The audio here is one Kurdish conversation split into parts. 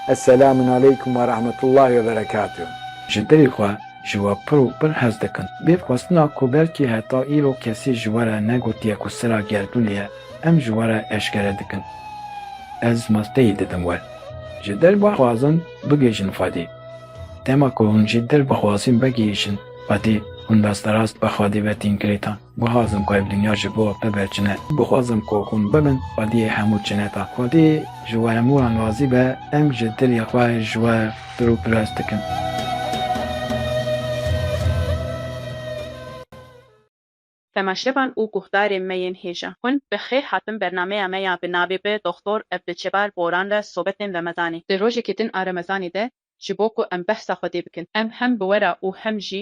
Eselamun aleykum ve rahmetullahi ve berekatuh. Ji dilê xwe ji we pir û pir hez dikim. Bê xwestina ku belkî heta îro kesî ji we re negotiye ku sira gerdûnê ye, em ji we re eşkere dikin. Ez masteyî didim we. Ji dil bixwazin bigihîjin Xwedê. Dema ku hûn ji dil bixwazin vegihîjin Xwedê, hûn rasterast bi Xwedê ve tîn girêdan. Guhazim ku ev dinya ji bo bibe çine. Guhazim ku hûn bibin xwediyê hemû çineta. Xwedî ji we hemû wan razî be, em ji dilê xwe ji we pir û pirs dikin. Temaşevan û guhdarên me yên hêja, hûn bi xêr hatin bernameya me ya bi navê Bi Doxtor Evliçebar Boran re sobetên remezanê. Di rojekê din a remezanê de ji bo ku em behsa Xwedê bikin, em hem bi we re û hem jî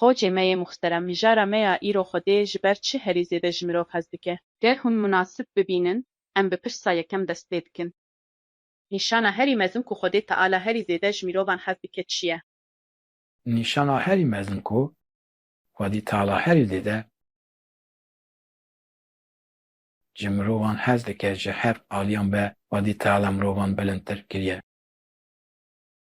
Xocê me yê muxterem, mijara me ya îro Xwedê ji ber çi herî zêde ji mirov hez dike? Ger hûn munasib bibînin, em bi pirsa yekem dest pê dikin. Nîşana herî mezin ku Xwedê Teala herî zêde ji mirovan hez dike çi ye? Nîşana herî mezin ku Xwedî Teala herî zêde ji mirovan hez dike ji her aliyan be Xwedî Teala mirovan bilindtir kiriye.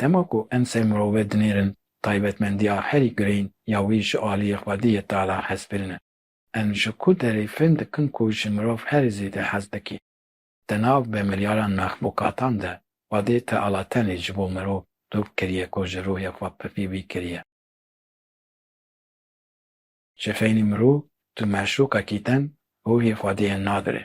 Dema ku em ser mirove dinêrin taybetmendiya herî girîng ya wî ji aliyê xwedî yê tala hezkirin e. Em ji ku derê fêm dikin ku ji mirov herî zêde hez dike. Di nav bi milyaran mexlûkatan de xwedê teala tenê ji bo mirov dûr kiriye ku ji rûhê xwe pifî wî kiriye. Ji feynî mirov tu meşlûkekî ten rûhê xwediyê nadire.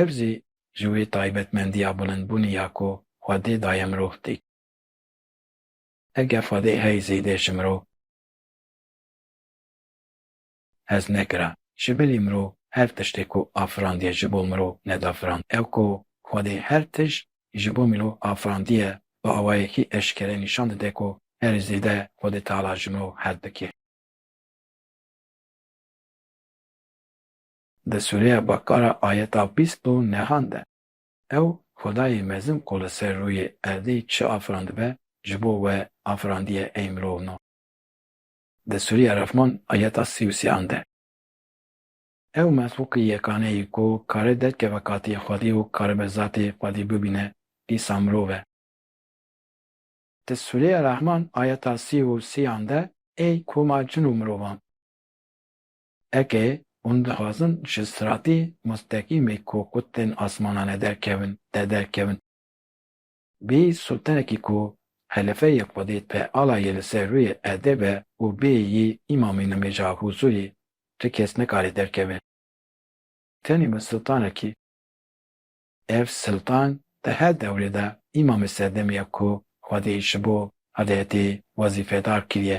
Ev jî ji wê taybetmendiya bilindbûnê ya ku Xwedê daye mirov tê. Eger Xwedê hey zêde ji mirov hez nekira, ji bilî mirov her tiştê ku afirandiye ji bo mirov nedafirand. Ew ku Xwedê her tişt ji bo mirov afirandiye bi awayekî eşkere nîşan dide ku herî zêde Xwedê Teala ji mirov hez dike. Di sûreya Bakara ayeta bîst û nehan de ew Xwedayê mezin ku li ser rûyê erdê çi afirandibe ji bo we afirandiye ey mirov no. Di sûreya Refman ayeta sî û sê an de ew mexlûqê yekane yê ku kare derkeve katê Xwedê û karibe zatê Xwedê bibîne dîsa mirov e. Di sûreya Rahman ayeta sî û sê an de ey koma cin û mirovan. Eke hûn dixwazin ji stratê mustekîmê ku ku tên asmanan e derkevin, te derkevin. Bê sotenekî ku helefeyê xwedê te ala yê li ser rûyê erdê be û bê yî îmamê nimêja hûzûrê tu kes nikare derkeve. Tenê bi siltanekî. Ev siltan di her dewrê de îmamê serdemê ye ku xwedê ji bo hedeyetê wezîfedar kiriye.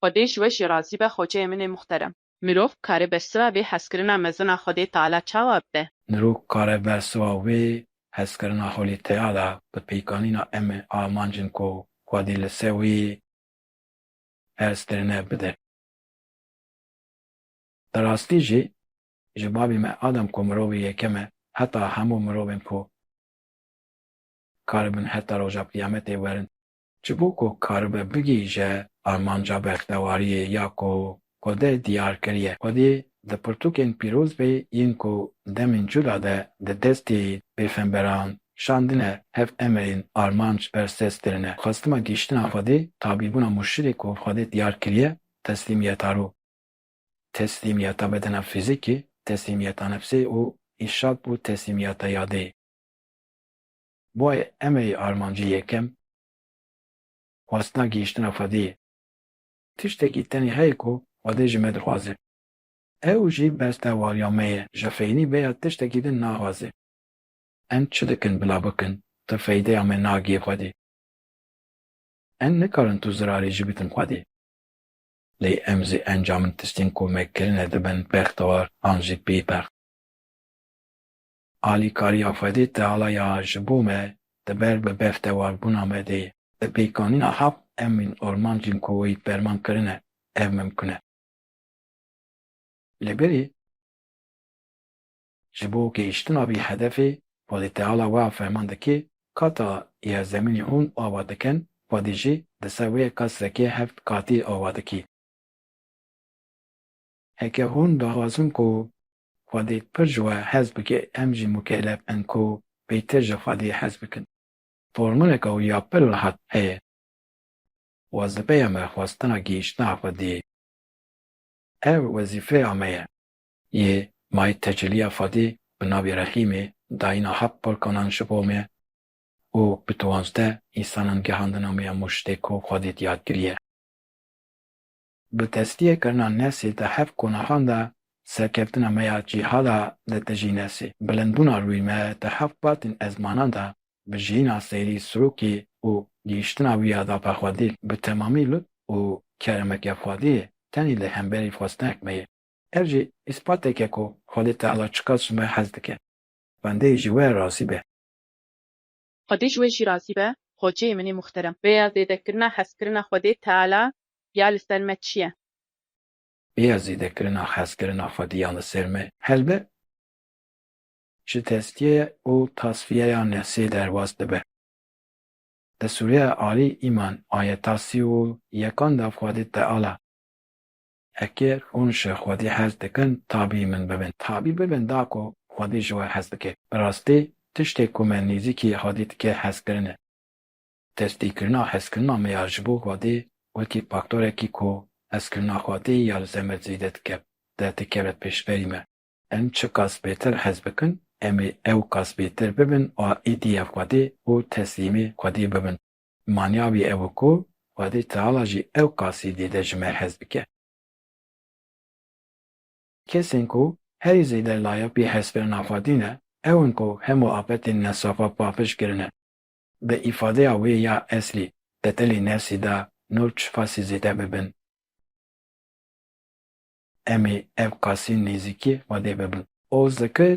Xwedê ji we jî razî be xoceyê min ê muxterem. Mirov kare bersiva vê hezkirina mezin a Xwedê Teala çawa bide? Mirov kare bersiva vê hezkirina Xwedê Teala bi pêkanîna em ê amancên ku Xwedê li ser wê ferz kirine bide. Bi rastî jî ji babê me Adam ku mirovê yekem e heta hemû mirovên ku karibin heta roja qiyametê werin Ji bo ku karibe bigihîje armanca bextewariyê ya ku Xwedê diyar kiriye, Xwedî di pirtûkên pîroz ve yên ku demên cûda de di destê pêxemberan şandine hev emirên armanc ber ses dirine. Xwestima gihîştina Xwedê, tabîbûna murşidê ku Xwedê diyar kiriye, teslîmiyeta rû, teslîmiyeta bedena fîzîkî, teslîmiyeta nefsê û îşad bû teslîmiyeta yadê. Boy eme yê armancê yekem xwestina gihîştina Xwedê ye. Tiştekî tenê heye ku Xwedê ji me dixwaze. Ew jî besta wariya me ye ji feynî vê ya tiştekî din naxwaze. Em çi dikin bila bikin tu feydeya me nagihê Xwedê. Em nikarin tu zirarê jî bikin Xwedê. Lê em zî encamên tiştên ku me kirine dibin bextewar an jî bêbext. Alîkariya Xwedê Tealaya ji bo me di ber bi bev tewarbûna me de ye. Di pêkanîna heft emrên armancên ku wî ferman kirine ev mimkun e. Li birî ji bo gehîştina vî hedefê, Xwedê Teala wiha ferman dike, Kata yerzemînê hûn ava dikin, Xwedê jî di ser wê qesrekê heft qatî ava dike. Heke hûn daxwazin ku Xwedî pir ji we hez bike em jî mûkelef in ku pêtir ji Xwedî hez bikin. Formuleke wî ya pir rihet heye. Wazipeya me xwestina gihîştina Xwediyê ye. Ev wezîfeya me ye. Yê may teceliya Xwedî bi navê Rehîmê dayîna heft polkanan ji bo me û bi diwanzdeh îsanan gihandina me ya mûştê ku Xwedî diyar kiriye. Bi tesliye kirina Nesê di hev konaxan de serkeftina me ya cîhada di tijî Nesê, bilindbûna rûyê me di hev qatên ezmanan de bi jiyîna seyrî Sirokê û gihîştina wî ya dapexwedî bi temamî lutf û kerema ke Xwedê ye tenê li hemberî xwestinehek me ye. Ev jî îspatêk e ku Xwedê Teala çiqas ji me hez dike. Xwendeyê ji we razî be. Xwedê ji wê jî razî be Hoceyê min ê muxterem. Rêya zêdekirina hezkirina Xwedê Teala ya li ser me çi ye? Rêya zêdekirina hezkirina Xwedê ya li ser me helbet ji tezkiyeya û tasfiyeya nefsê derbas dibe. Li sûreya Alî îman ayeta sî û yekan de Xwedê Teala Eger hûn ji Xwedî hez dikin, tabî min bibin. Tabî bibin da ku Xwedî ji we hez dike. Bi rastî, tiştê ku me nêzîkî Xwedî dike hezkirin e. Destpêkirina hezkirina me ya ji bo Xwedî wekî faktorekî ku hezkirina Xwedî ya li ser me zêde dike, de dikeve pêşberî me. Em çi kasbêtir hez bikin, em ê ew kasbêtir bibin û êdî ya Xwedî û teslîmê Xwedî bibin. Manya wî ew e ku Xwedê Teala jî ewqasî dê de ji me hez bike. Kesên ku herî zêde layq yê hezkirina Xwedê ne, ew in ku hemû afetên nesafa paqij kirine. Bi îfadeya wê ya eslî, tetelê nefsî de nû çi fasî zêde bibin. Em ê ewqasî nêzîkî Xwedê bibin. Oz dikir.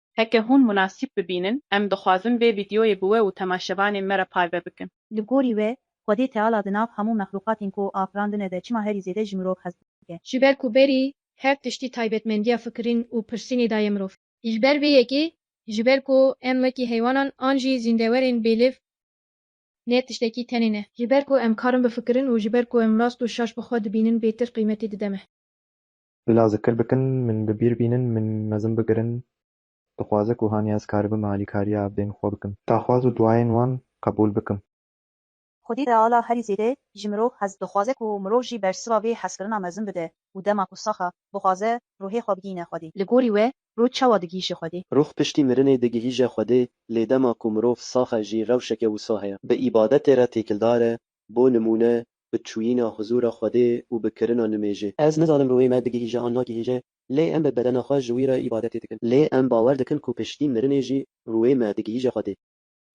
Heke hûn munasîb bibînin, em dixwazin vê vîdyoyê bi we û temaşevanên me re parve bikin. Li gorî wê, Xwedê Teala di nav hemû mexlûqatên ku afirandine de çima herî zêde ji mirov hez dike? Ji ber ku berî her tiştî taybetmendiya fikirîn û pirsînê da ye mirov. Ji ber vê yekê, ji ber ku em wekî heywanan an jî zîndewerên bêlêv ne tiştekî tenê ne. Ji ber ku em karin bifikirin û ji ber ku em rast û şaş bi xwe dibînin bêtir qîmetê dide me. Bila zikir bikin, min bi bîr bînin, min mezin bigirin, dixwaze ku haniya ez karibim alîkariya evdên xwe bikim. Daxwaz û duayên wan qebûl bikim. Xwedî reala herî zêde ji mirov hez dixwaze ku mirov jî bersiva vê hezkirina mezin bide û dema ku sax e, bixwaze ruhê xwe bigihîne Xwedê. Li gorî we ruh çawa digihîje Xwedê? Ruh piştî mirinê digihîje Xwedê, lê dema ku mirov sax e jî rewşeke wisa heye. Bi îbadetê re têkildar e Bo nimûne, bi çûyîna huzûra Xwedê û bi kirina nimêjê. Ez nizanim ruhê me digihîje an nagihîje, lê em bi bedena xwe ji wî re îbadetê dikin. Lê em bawer dikin ku piştî mirinê jî ruhê me digihîje Xwedê.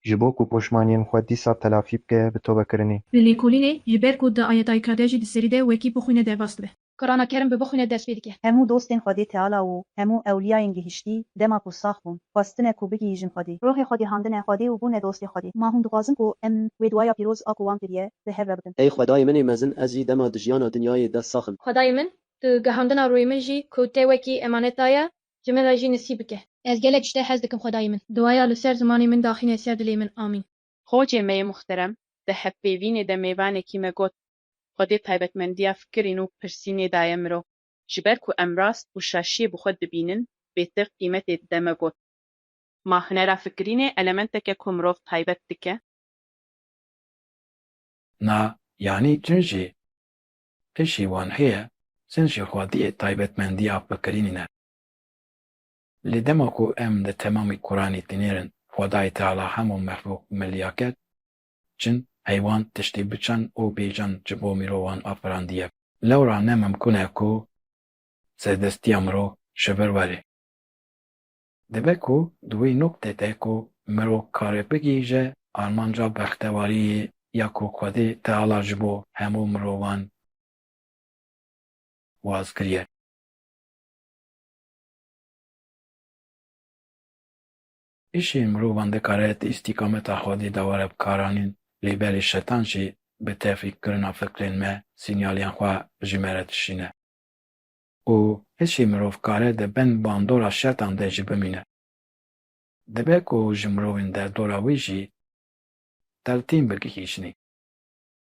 Ji bo ku poşmaniyên xwe dîsa telafî bike, bi tobekirinê. Li lêkolînê, ji ber ku di ayetayî Kadejî di serî de wekî bixwîne derbas dibe. Kurana kerim bi bixwîne ders pê dike. Hemû dostên Xwedê Teala û hemû ewliyayên gihiştî dema ku sax bûn, xwestine ku bigihîjin Xwedê. Ruhê xwe gihandine Xwedê û bûne dostê Xwedê. Ma hûn dixwazin ku em wê duaya pîroz a ku wan kiriye bi hev re bikin. Ey Xwedayê min ê mezin ez jî dema di jiyana dinyayê de sax im. Xwedayê min tu gihandina ruhê min jî ku te wekî emanet daye ji min re jî nisîb bike. Ez gelek ji te hez dikim Xwedayê min. Duaya li ser zimanê min daxîne ser dilê min. Amîn. Xocê me yê muhterem di hevpêvînê de mêvanekî me got. Xwedê taybetmendiya fikirîn û pirsînê daye mirov. Ji ber ku em rast û şaşiyê bi xwe dibînin, bêtir qîmetê dide me got. Ma hunera fikirînê elementek e ku mirov taybet dike. Na yanî cin jî êşî wan heye, cin jî xwediyê taybetmendiya fikirînîn e. Lê dema ku em di temamî Quranî dinêrin Xwedayê Teala hemû mexlûq milîya kir, Cin, heywan, tiştê biçan û bêcan ji bo mirovan afirandiye. Lewra ne mimkun e ku serdestiya mirov ji vir were. Dibe ku di wê noktê de ku mirov kare bigihîje armanca bextewariyê ya ku Xwedê Teala ji bo hemû mirovan waz kiriye. Îşê mirovan dikare di îstîkameta xwedî de were bikaranîn, lê belê şetan jî bi tevfîk kirina fikrên me sînyalên xwe ji me re dişîne û îşê mirovkare di bin bandora şetan de jî bimîne. Dibe ku ji mirovên derdora wî jî teltîn bigihîjinî.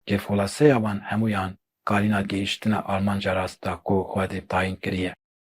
Lê xulaseya wan hemûyan karîna gihîştina armanca rast da ku xwedî tayîn kiriye.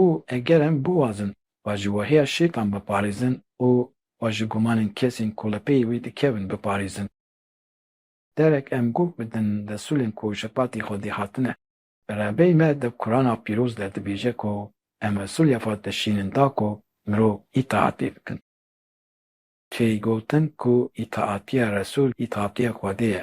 Û eger em biwazin xwe ji wehiya şêtan biparêzin û xwe ji gumanên kesên ku li pey wê dikevin biparêzin. Derek em guh bidin desûlên ku ji patê Xwedê hatine. Rebey me di Kurana Pîroz de dibêje ku em esûlya xwe dişînin da ku mirov îtaatê bikin. Tê gotin ku îtaatiya Resûl îtaatiya Xwedê ye.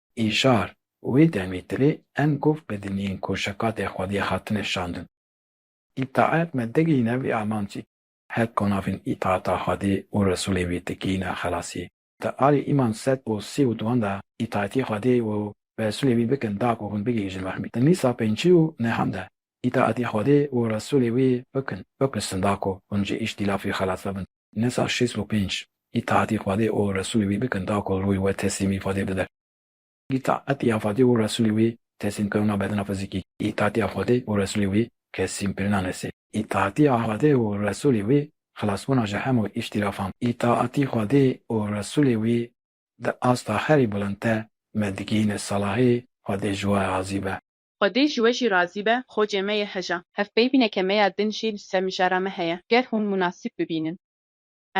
Îşar, Wê demê tilê em gov bidinîn ku şekatên xwediyê hatine şandin. Îtaet me digihîne vî amancî. Her ku navên îtaeta Xwedê û Resûlê wî digihîne xelasî. Di alî îman sed û sî û duan de îtaetî Xwedê û Resûlê wî bikin da ku hûn bigihîjin rehmî. Di mîsa pêncî û nehan de îtaetî Xwedê û Resûlê wî bikin, bipirsin da ku hûn ji îş dîlafî xelas bibin. Nê sal şêst û pênc îtaetî Xwedê û Resûlê wî bikin ta ku rûyê we teslîmî Xwedê bide. Îtaetiya Xwedê û Resûlê wî teslîmkirina bedena fizîkî, îtaetiya Xwedê û Resûlê wî keslîmkirina nesê, îtaetiya Xwedê û Resûlê wî xilasbûna ji hemû îhtilafan, îtaetî Xwedê û Resûlê wî di asta herî bilind de me digihîne salahî Xwedê ji we razî be. Xwedê ji we jî razî be, xocê me yê heja. Hevpeyvîneke me ya din jî li ser mijara me heye. Ger hûn munasîb bibînin,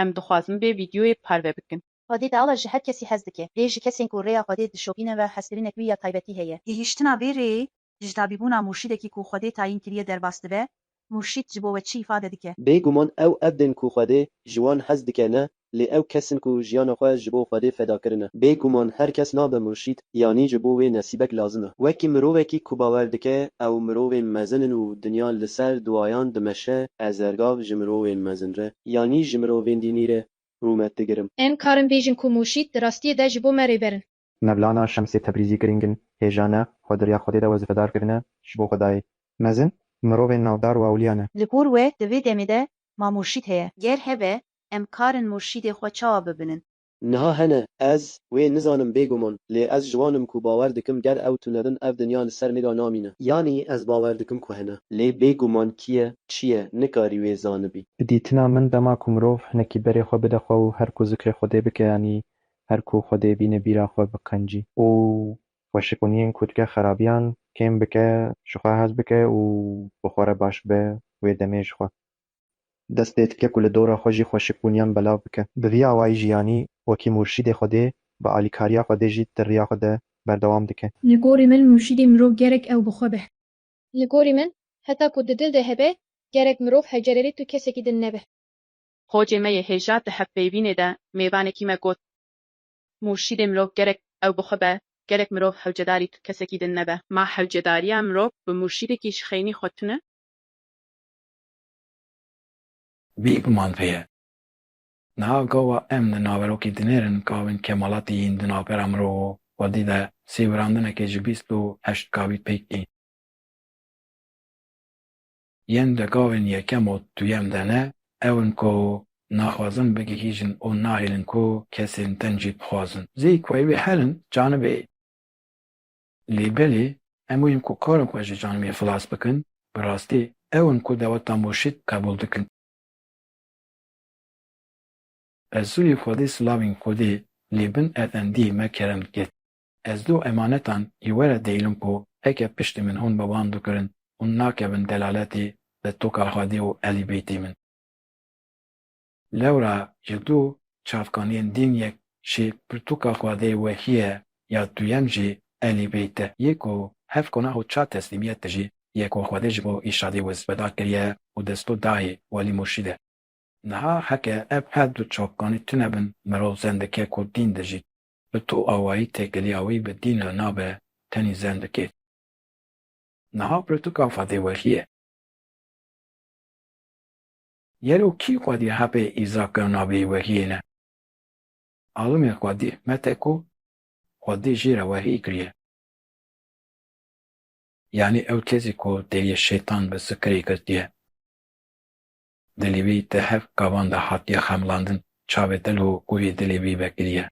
em dixwazin vê vîdyoyê parve bikin. Xwedê teala ji her kesî hez dike. Lê ji kesên ku rêya Xwedê dişopîne ve hezkirinek wî ya taybetî heye. Gihîştina vê rêyê, dijitavîbûna murşîdekî ku Xwedê tayîn kiriye derbas dibe Murşîd ji bo we çi îfade dike? Bê guman ew erd in ku Xwedê ji wan hez dike ne, lê ew kes in ku jiyana xwe ji bo Xwedê feda kirine. Bê guman her kes nabe murşîd, yanî ji bo wê nesîbek lazim e. Wekî mirovekî ku bawer dike ew mirovên mezin in û dinya li ser duwayan dimeşe, ez ergav ji mirovên mezin re, yanî ji mirovên dînî re rûmet digirim. Em karin bêjin ku murşîd di rastiyê de ji bo me rêber in. Mevlana Şemsê Tebrîzî girîng in, hêja ne, xwe di riya Xwedê de wezifedar kirine ji bo Xwedayê. Mezin, mirovên navdar û ewliya ne. Li gor we di vê demê de ma murşîd heye? Ger hebe, em kar in murşîdê xwe çawa bibinin? Niha hene, ez wê nizanim bêguman, lê ez ji wan im ku bawer dikim ger ew tune bin ev dinya li ser mêra namîne. Yanî ez bawer dikim ku hene. Lê bêguman kî ye, çi ye, nikarî wê zanibî. Bi dîtina min dema ku mirov hinekî berê xwe bide xwe û her ku zikrê Xwedê bike yanî Her ku xwe dê bîne bîra xwe biqencî. Û xweşiqûniyên ku dike xerabiyan kêm bike, ji xwe hez bike û bi xwe re baş be wê demê ji xwe. Dest pê dike ku li dora xwe jî xweşiqûniyan belav bike. Bi vî awayî jiyanî wekî murşîdê xwe dê, bi alîkariya xwe dê jî ti riya xwe de berdewam dike. Li gorî min murşîdê mirov gerek ew bi xwe be. Li gorî min heta ku di dil de hebe gerek mirov hecererê tu kesekî din nebe. Xocê me yê hêja di hevpeyvînê de mêvanekî me got, Murşîdê mirov gerek ew bi xwe be, gerek mirov hewcedarî tu kesekî din nebe. Ma hewcedariya mirov bi murşîdekî ji xeynî xwe tune? Vî guman vê ye. Niha gawa em di naverokê dinêrin gavên kemalatî yên di navbera mirov û xwedî de sêwirandinekê ji bîst û heşt gavî pêk ên. Yên di gavên yekem û duyem de ne, ew in ku naxwazin bigihîjin û nahêlin ku kesên din jî bixwazin. Zî ku ew ê herin, canibê ê. Lê belê hemû yên ku karin xwe ji canibê xilas bikin, bi rastî ew in ku dewleta murşîd qebûl dikin. Resulî Xwedî silavên xwedî li bin efendiyê me kerem dikir. Ez do emanetan ji we re dihêlim ku heke piştî min hûn bi wan dukirin, hûn nakevin delaletê li toka xwedê û Elî Beytê min. Lewra ji du çavkaniyên din yek jî pirtûka xwedê wehî ye ya duyem jî Elî Beyt e. Yê ku hev konah û çar teslîmiyet de jî ye ku xwedê ji bo Îrşadê Wiz veda kiriye û desto dayê Welî Murşîd e. Niha heke ev her du çavkanî tune bin mirov zendike ku din dijît, Li to awayî têkiliya wî bi dîna nabe tenî zen bi kêf. Niha pirtûka Fadê Welî ye. Gelo kî xwedî hebê Îzak ya navê Welîyê ne? Alimê xwedî mete ku xwedî jî re welî kiriye. Yanî ew têzî ku dêyê şêtan bi zikirê girtiye. Dilê wî di hev gavan de hatiye xemlandin, çavê dil û ûvî dilê wî vekiriye.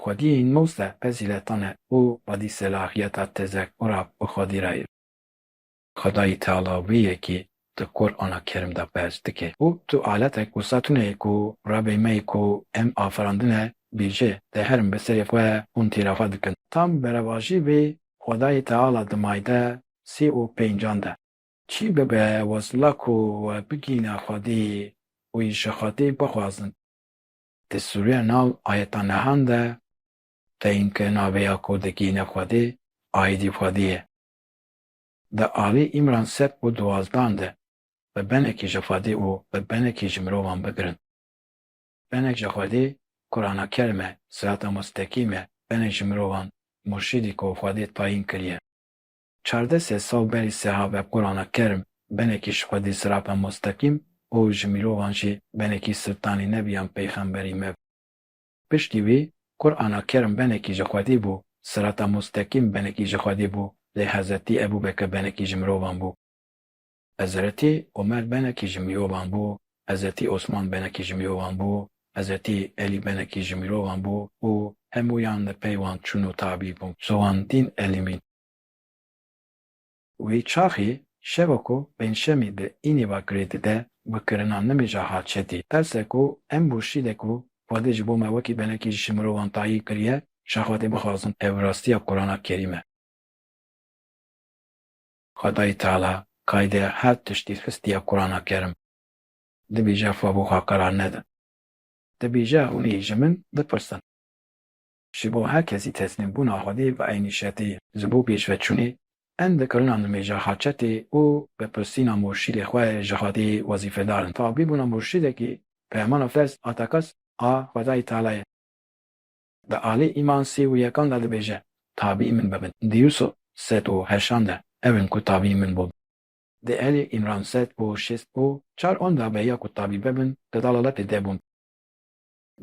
Xwedî nozde fezîletan e û xwedî selahiyeta tezekura bi xwedî re ye. Xwedayî Teala wê yekî di Qur'ana Kerîm de behs dike û tu aletek û setûne yî ku Rebê me yî ku em afirandin e bêje, di herin bi serê xwe hûn tîra xwe dikin. Tam berevajî vê Xwedayî Teala di mayde sî û pêncan de. Çî bibe wezla ku we bigihîne Xwedê û yê ji Xwedê bixwazin. Di sûreya nav ayetan nihan de teyîn ke navê ya ku digihîne Xwedê aîdî Xwedê ye. Di alî Îmran sed û duwazdan de bi benekî ji Xwedê û bi benekî ji mirovan bigirin. Benek ji Xwedê Kurana Kerîm e, Sirata Mustekîm e, benek ji mirovan murşîdî ku Xwedê tayîn kiriye. Çardeh sed sal berî seha ve Qurana Kerm benekî ji Xwedê Sirata Mostekîm û ji mirovan jî benekî Siltanî Nebiyan Peyxemberî me bû. Piştî wî Qurana Kerm benekî ji Xwedê bû, Sirata Mostekîm benekî ji Xwedê bû lê Hezretî Ebû Bekir benekî ji mirovan bû. Hezretî Omer benekî ji mirovan bû, Hezretî Osman benekî ji mirovan bû, Hezretî Elî benekî ji mirovan bû û hemûyan li pey wan çûn û tabî bûn. Sowan dîn elîmîn. Wî çaxî şeva ku pêncşemî di înî va kirê dide bi kirina nimîja hat çetî. Terse ku em murşîde ku Xwedê ji bo me wekî benekî ji mirovan tayîn kiriye, ji Xwedê bixwazin ev rastiya Qurana Kerîm e. Xwedayî Teala qayde her tiştî xistiye Qurana Kerim. Dibêje xwe bo xwe qerar nedin. Dibêje hûn ê ji min bipirsin. Ji bo her kesî teslîmbûna Xwedê bi eynî şetê ye. Ji bo pêşveçûnê em di kirina nimêja haçetê û bipirsîna murşîdê xwe ji Xwedê wezîfedar in. Tabîbûna murşîdekî Peyamana Fez Atekas a Xwedayî Teala ye. Bi alî îman sî û yekan de dibêje, Tabî min bibin. Di Yûsûf sed û heşan de ew in ku tabî min bûn. Di Elî Îmran sed û şêst û çar on de beya ku tabî bibin di dalaletê de bûn.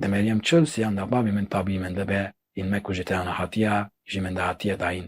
Di Meryem çil siyan de babî min tabî min dibe, în me ku ji te ana hatiye jî min de hatiye dayîn.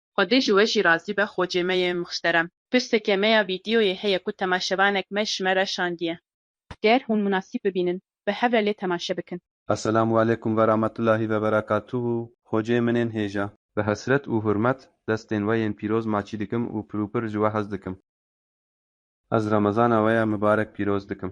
Xwedê ji we jî razî be xocê me yê mixşterem. Pirseke me ya vîdyoyê heye ku temaşevanek me ji me re şandiye. Ger hûn munasîb bibînin bi hev re lê temaşe bikin. Esselamu aleykum verametullahî veberekatuhu Xocê min ên hêja. Bi hesret û hurmet destên we yên pîroz maçî dikim û pirûpir ji we hez dikim. Ez remezana we ya mibarek pîroz dikim.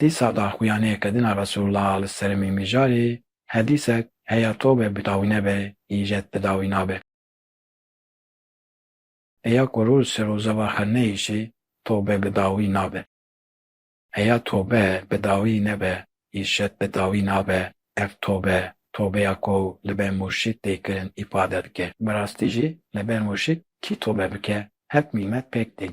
Dîsa da xuyanê kedina Resûlullah li seremî mijarê, hedîsek heya tobe bidawî nebe, îjet bidawî nabe. Heya ku rû li ser rojeva xwe neyêşê, tobe bidawî nabe. Heya tobe bidawî nebe, îjet bidawî nabe, ev tobe, tobeya ku li ber murşîd tê kirin îfade dike. Bi rastî jî li ber murşîd kî tobe bike, hevk nîmet pêk tên.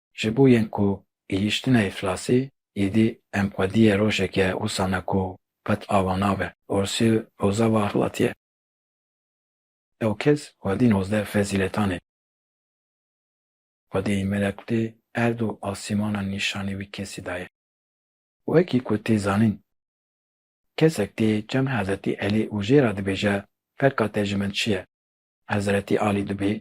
Ji bo yên ku gihîştine îflasî êdî em xwediyê rojeke wisa ne ku qet ava nabe. Orsî rojava axlatiyê. Ew kes xwedî nozdeh fezîletan ê. Xwedî melekutê erd û asîmanan nîşanî wî kesî dayê. Wekî ku tê zanîn. Kesek tê çem Hezretî Elî û jê re dibêje ferqa te ji min çi ye? Hezretî Alî dibê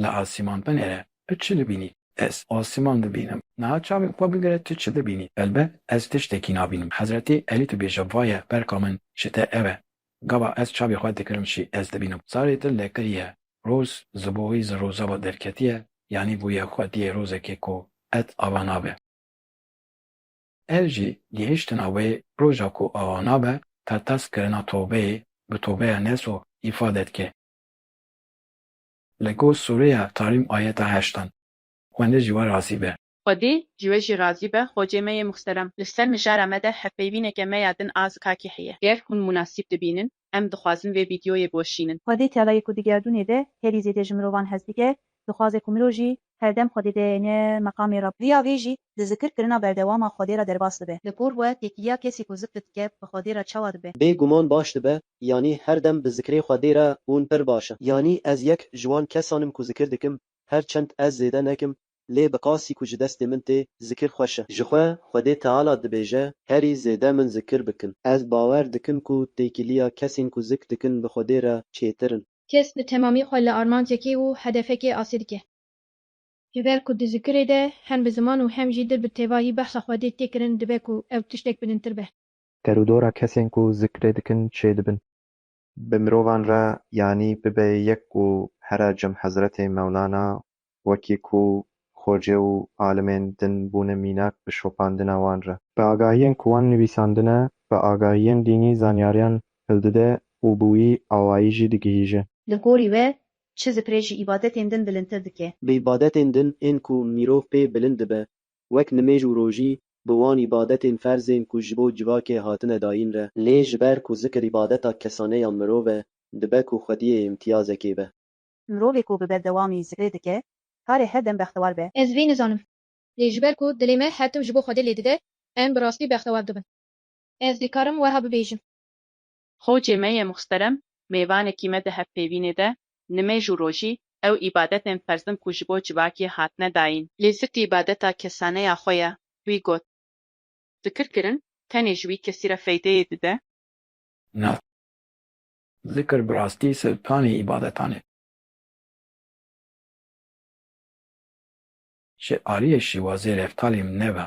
li asîman binêre, tu çi dibînî? Ez asîman dibînim. Niha çavên xwe bigire tu çi dibînî? Helbet ez tiştekî nabînim. Hezretî Elî dibêje vaye berka min ji te ev e. Gava ez çavê xwe dikirim jî ez dibînim. Zarê dil lekiriye. Roz ji bo wî ji roza ve derketiye, yanî bûye xwediyê rozekê ku qet ava nabe. Ev jî gihiştina wê roja ku awa nabe qertez kirina tobeyê bi tobeya neso îfade dike. Li gor sûreya Tarîm ayeta heştan, Xwendê ji we razî be. Xwedê ji we jî razî be xocê me yê muxterem. Li ser mijara me de hevpeyvîneke me ya din a zikakî heye. Ger hûn munasîb dibînin Em dixwazin vê vîdyoyê boşînin. Xwedê tela ye ku di gerdûnê de herî zêde ji mirovan hez dike, dixwaze ku mirov jî herdem Xwedê de ne meqamê Reb. Riya vê jî di zikir kirina berdewama Xwedê re derbas dibe. Li gor we têkiliya kesî ku zikr dike bi Xwedê re çawa dibe? Bê guman baş dibe, yanî her dem bi zikrê Xwedê re bûn pir baş e. Yanî ez yek ji wan kesan im ku zikir dikim, her çend ez zêde nekim, lê bi qasî ku ji destê min tê, zikir xweş e. Jixwe Xwedê Teala dibêje, Herî zêde min zikir bikin. Ez bawer dikim ku têkiliya kesên ku zik dikin bi Xwedê re çêtir in. Kes bi temamî xwe li armancekê û hedefekê asê dike. Ji ber ku di zikirê de hem bi ziman û hem jî dil bi tevahî behsa Xwedê tê kirin dibe ku ew tiştek bilintir be. Derûdora kesên ku zikirê dikin çêdibin. Bi mirovan re yanî bibe yek ku here cem Hezretê Mewlana wekî ku xocê û alimên din bûne mînak bi şopandina wan re. Bi agahiyên ku wan nivîsandine, bi agahiyên dînî zanyariyan hildide û bi wî awayî jî digihîje. Li gorî we çi zikrê ji îbadetên din bilindtir dike? Bi îbadetên din ên ku mirov pê bilind dibe wek nimêj û rojî bi wan îbadetên ferz ên ku ji bo civakê hatine dayîn re, lê ji ber ku zikr îbadeta kesane ya mirov e, dibe ku xwediyê îmtiyazekê be. Mirovê ku bi berdewamî zikrê dike, kare her dem bextewar be. Ez vê nizanim. Lê ji ber ku dilê me her tim ji bo Xwedê lê dide, em bi rastî bextewar dibin. Ez dikarim wiha bibêjim. Xocê me yê muhsterem mêvanekî me di hevpêvînê de nimêj û rojî ew îbadetên ferzin ku ji bo civakî hatine dayîn. Lê zikr îbadeta kesaneya xwe ye. Wî got. Zikr kirin tenê ji wî kesî re feydeyê dide. Na. Zikr bi rastî siltanê îbadetan e. Ji aliyê şîwazê reftalê min nebe.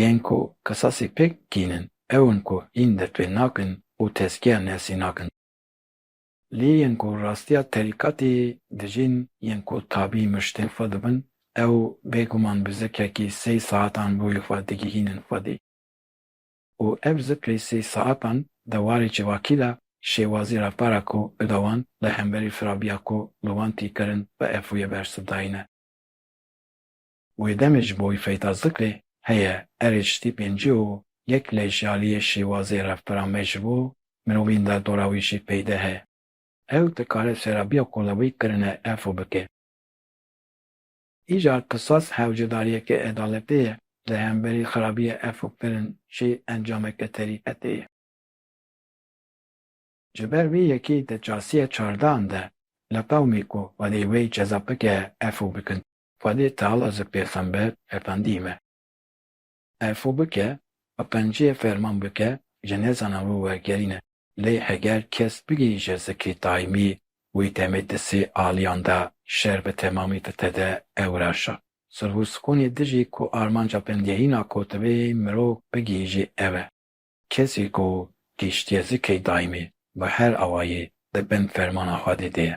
Yên ku qisasî pêk kîn in, ew in ku hîn destpê nakin û tezkiya nefsî nakin. Lê yên ku rastiya terîkatê dijîn, yên ku tabî miştên xwe dibin, ew bêguman bi zikrekî sey saetan boyê xwe digihînin xwedî. Û ev zikrê sey saetan di warê civakî de şêwazî reftara ku bide wan li hemberî firabiya ku li wan tî kirin bi efoyê bersivdayîne. Wê demê ji bo wî feyda zikrê heye, erê ji tî pêncî û yek lê ji aliyê şêwazê reftara me ji bo mirovîn de dora wî jî peyde he. Ew dikare serabiya ku li wî kirine efo bike. Îcar qisas hewcedariyeke edaletê ye, di hemberî xerabiyê efo kirin jî encameke terîqetê ye. Ji ber vê yekê di çasiya çardehan de li qewmê ku xwedê wê ceza bike efo bikin. Xwedê Teala ji Pêxember Efendî me. Erfû bike û qenciyê ferman bike ji nêzana wî wergerîn e. Lê heger kes bigihîje zikrî daîmî wî demê di sê aliyan de şer bi temamî ditede ew reşa. Sulh û sikunê dijî ku armanca bingehîna kotivê mirov bigihîjê ew e. Kesî ku gihîştiye zikrî daîmî bi her awayî di bin fermana Xwedê de ye.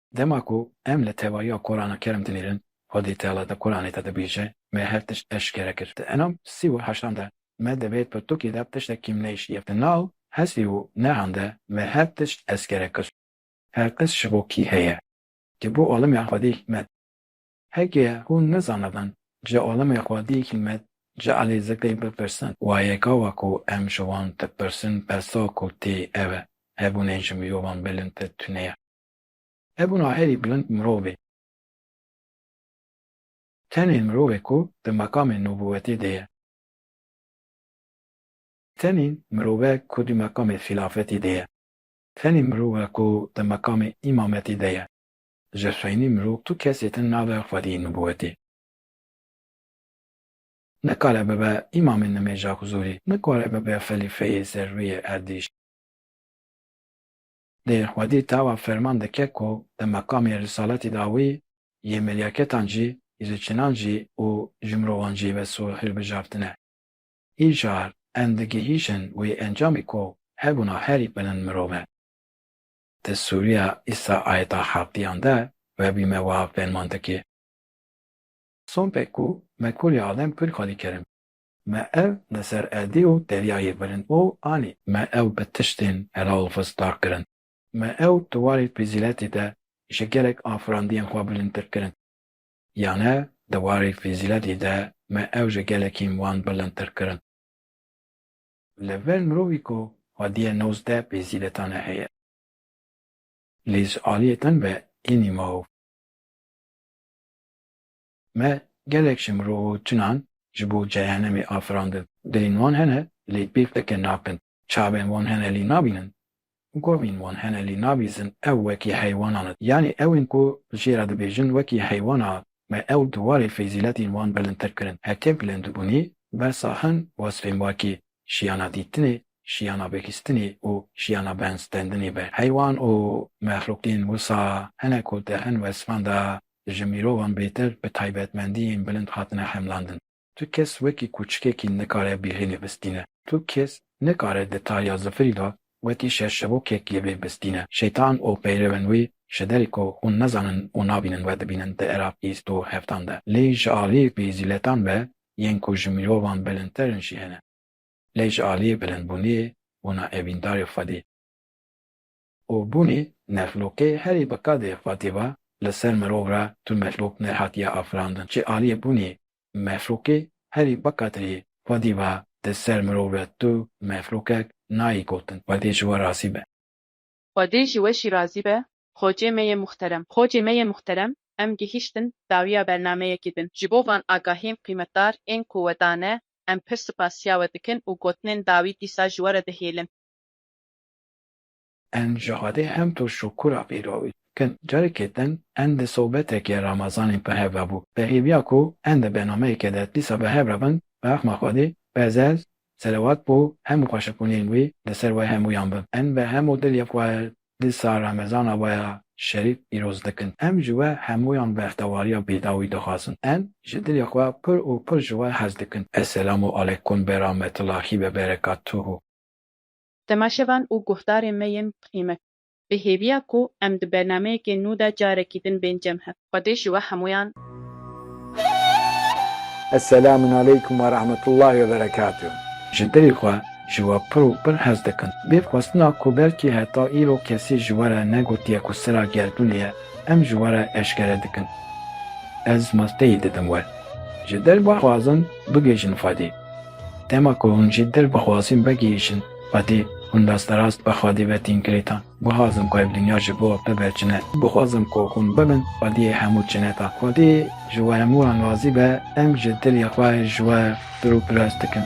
Dema ku em li tevahiya Kurana Kerim dimînin, Xwedê Teala di Kuranê de dibêje, Me her tişt eşkere kir. Di Enam sî û heştan de, Me divê pirtûkê de tiştek kêm neyiştiye. Di nav Hesrî û Nehan de, Me her tişt eskere kir. Her tişt ji bo kî heye? Ji bo alemiya Xwedê hîkmet. Heke hûn nizanibin ji alemiya Xwedê hîkmet, ji Elî Zikrî bipirsin. Wayeka we ku em ji wan dipirsin, bersa ku tê ev e, Hebûnê ji mirovan bilindtir tuneye. Hebûna herî bilind mirovê. Tenê mirovê ku di meqamê nûbûwetê de ye. Tenê mirove ku di meqamê xîlafetê de ye. Tenê mirove ku di meqamê îmametê de ye. Ji xeynî mirov tu kesê din nabe xwediyê nûbûwetê. Nikare bibe îmamê nimêja xuzûrî. Nikare bibe xelîfeyê ser rûyê erdîş. Lê xwedî tawa ferman dike ku di meqamê risaletî da wî yê melyaketan cî, îzoçinan cî û ji mirovan cî wes û hilbijartine. Îcar em digihîjin wê encamê ku hebûna herî bilind mirov e. Di sûriya îsa ayeta hevdiyan de webî me wiha ferman dike. Sompek ku me kurê adem kur xwedî kerim. Me ev li ser erdê û deryayê bilind û anî. Me ew bi tiştên hela û fist dar kirin. Me ew di warê fezîletê de ji gelek afirandiyên xwe bilindtir kirin. Yane di warê fezîletê de me ew ji gelekîn wan bilindtir kirin. Li vir mirovî ku xwediyê nozdeh fezîletane heye. Lê ji aliyê din ve ênî maof. Me gelek ji mirov û çinan ji bo cehenemê afirandin. Dilên wan hene lê pêk teke nakin, çavên wan hene lê nabînin, govên wan hene lê nabîzin ew wekî heywanan in. Yanî ewên ku li jê re dibêjin wekî heywana in. Me ew di warê fezîletên wan bilindtir kirin. Heke bilindbûnê bersa hin wesfên wekî, şiyana dîtinê, şiyana bihîstinê û şiyana benstendinê be. Heywan û mexlûqên wisa hene ku di hin wesfan de Ji mirovan bêtir bi taybetmendiyên bilind hatine hemlandin. Tu kes wekî kûçikekî nikare bîlênê bistîne. Tu kes nikare di tariya zifirî de wekî şerşevokek yê wê bistîne. Şeytan û peyrevên wî ji derî ku hûn nezanin û nabînin we dibînin di era bîst û heftan de. Lê ji aliyê fîzîletan ve yên ku ji mirovan bilindtir in jî hene. Lê ji aliyê bilindbûniyê bûna evîndarê xwedî. û bûnê mexlûqê herî bi qadê xwe tê va li ser mirov re tu mexlûq nehatiye afirandin çi aliyê bûnê mexlûqê herî bi qadrê xwe dî va di ser mirov re tu mexlûqek nayî gotin xwedê ji we razî be. Xwedê ji we jî razî be Xocê me yê muhterem. Xocê me yê muhterem em gihîştin dawiya bernameyekî din ji bo van agahiyên qîmetdar ên ku we dane em pir sipasiya we dikin û gotinên dawî dîsa ji we re dihêlin. Em ji Xwedê hem tu şukura vê rewî dikin. Carekê din em di sobetekê Ramazanê bi hev ve bû. Pehêviya ku em di bernameyekê de dîsa bi hev re bin, bi rexma Xwedê bezez, selewat bo hemû xweşikbûnên wî li ser we hemûyan bin. Em bi hemû dilê xwe dîsa Ramezana we ya şerîf pîroz dikin. Em ji we hemûyan bextewariya bêdawî dixwazin. Em ji dilê xwe pir û pir ji we hez dikin. Esselamu Aleykum Berametullahî Veberekatuhu. Temaşevan û guhdarên me yên bi qîmet. Bi hêviya ku em di bernameyekê nû de carekî din bên cem hev. Xwedê ji we hemûyan. Eselamun aleykum ve rahmetullahi ve berekatuh. Ji dilê xwe ji we pir û pir hez dikim. Vê xwestina ku belkî heta îro kesî ji we re negotiye ku sira gerdûnê ye, em ji we re eşkere dikim. Ez masteyî didim we. Ji dilba xwazim bigihîjin Xwedê. Dema ku hûn jî dil bixwazîn vegihîşin xwedî, hûn rasterast bi xwedî ve tîn kirîtan. Bixwazim ku ev dinya ji bo bibe çine. Bixwazim ku hûn bibin xwediyê hemû çinetan. Xwedî ji we hemû an razî be, em ji dilê xwe ji we pirûpiras dikin.